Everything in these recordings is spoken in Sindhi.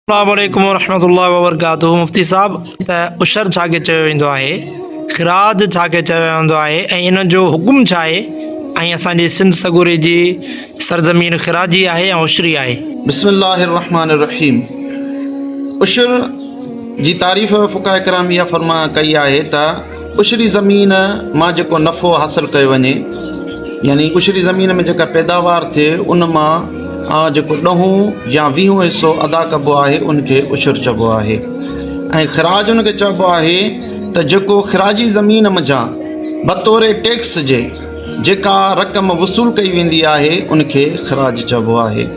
السلام عليڪم ورحمة الله وبرڪاته مفتي صاحب ته عشر ڇا کي چيو ويندو آهي خراج ڇا کي چيو ويندو آهي ۽ ان جو حڪم ڇا آهي ۽ اسان جي سنڌ سڳوري جي سرزمين خراجي آهي يا عشري آهي بسم الله الرحمن الرحيم عشر جي تعريف فقه ڪرام يا فرما ڪئي آهي ته عشري زمين مان جيڪو نفعو حاصل ڪيو وڃي يعني عشري زمين ۾ جيڪا پيداوار ٿئي ان مان جيڪو ڏهون يا ويهون حصو ادا ڪبو آهي ان کي عشر چئبو آهي ۽ خراج ان کي چئبو آهي ته جيڪو خراجي زمين منجهان بطور ٽيڪس جي جيڪا رقم وصول ڪئي ويندي آهي ان کي خراج چئبو آهي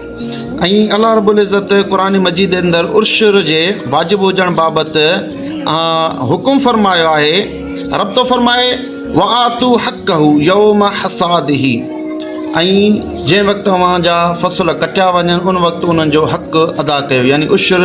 ائين الله رب العزت قرآن مجيد اندر عشر جي واجب هجڻ بابت حڪم فرمايو آهي رب ٿو فرمائي وآتو حق هو يوم حساد هي ۽ جنهن وقت اوهان جا فصل ڪٽيا وڃن ان وقت انهن جو حق ادا ڪيو يعني عشر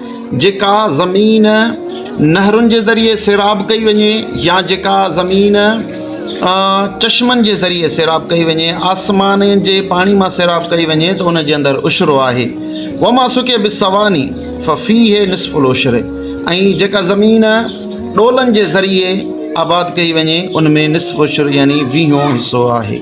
جيڪا زمين نهرن جي ذريعي سيراب ڪئي وڃي يا جيڪا زمين چشمن جي ذريعي سيراب ڪئي وڃي آسمان جي پاڻي مان سيراب ڪئي وڃي ته ان جي اندر عشرو آهي و ما سڪي به سواني ففي هي نصف العشر ۽ جيڪا زمين ڏولن جي ذريعي آباد ڪئي وڃي ان ۾ نصف عشر يعني ويهون حصو آهي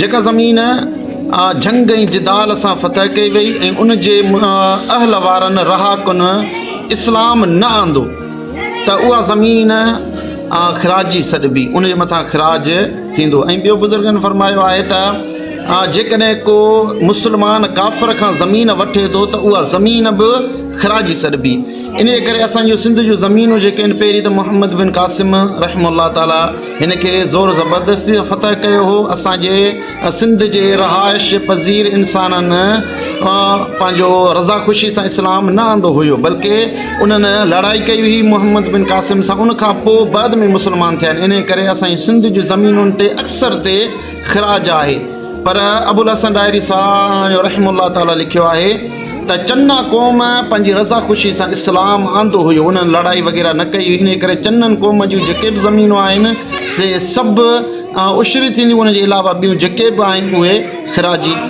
جيڪا زمين جنگ ۽ جدال سان فتح ڪئي وئي ۽ ان جي اهل وارن رهاڪن اسلام نه آندو ته اها زمين خراجي سڏبي ان جي مٿان خراج ٿيندو ۽ ٻيو بزرگن فرمايو آهي ته جيڪڏهن ڪو مسلمان ڪافر کان زمين وٺي ٿو ته اها زمين به خراجي سڏبي ان جي ڪري اسان جو سنڌ جون زمينون جيڪي آهن پهرين ته محمد بن قاسم رحم الله تعالٰي هن کي زور زبردستي سان فتح ڪيو هو اسان جي سنڌ جي رهائش پذير انسانن پنهنجو رضا خوشي سان اسلام نه آندو هيو بلڪه انهن لڙائي ڪئي هئي محمد بن قاسم سان ان کان پوء بعد ۾ مسلمان ٿيا آهن انهي ڪري اسان جي سنڌ جي زمينن تي اڪثر تي خراج آهي پر ابوالحسن ڏاهري صاحب رحمه الله تعالٰي لکيو آهي ته چنا قوم پنهنجي رضا خوشي سان اسلام آندو هيو انهن لڙائي وغيره نه ڪئي انهي ڪري چنن قوم جون جيڪي به زمينون آهن سي سڀ عشري ٿينديون ان جي علاوه ٻيون جيڪي به آهن اهي خراجي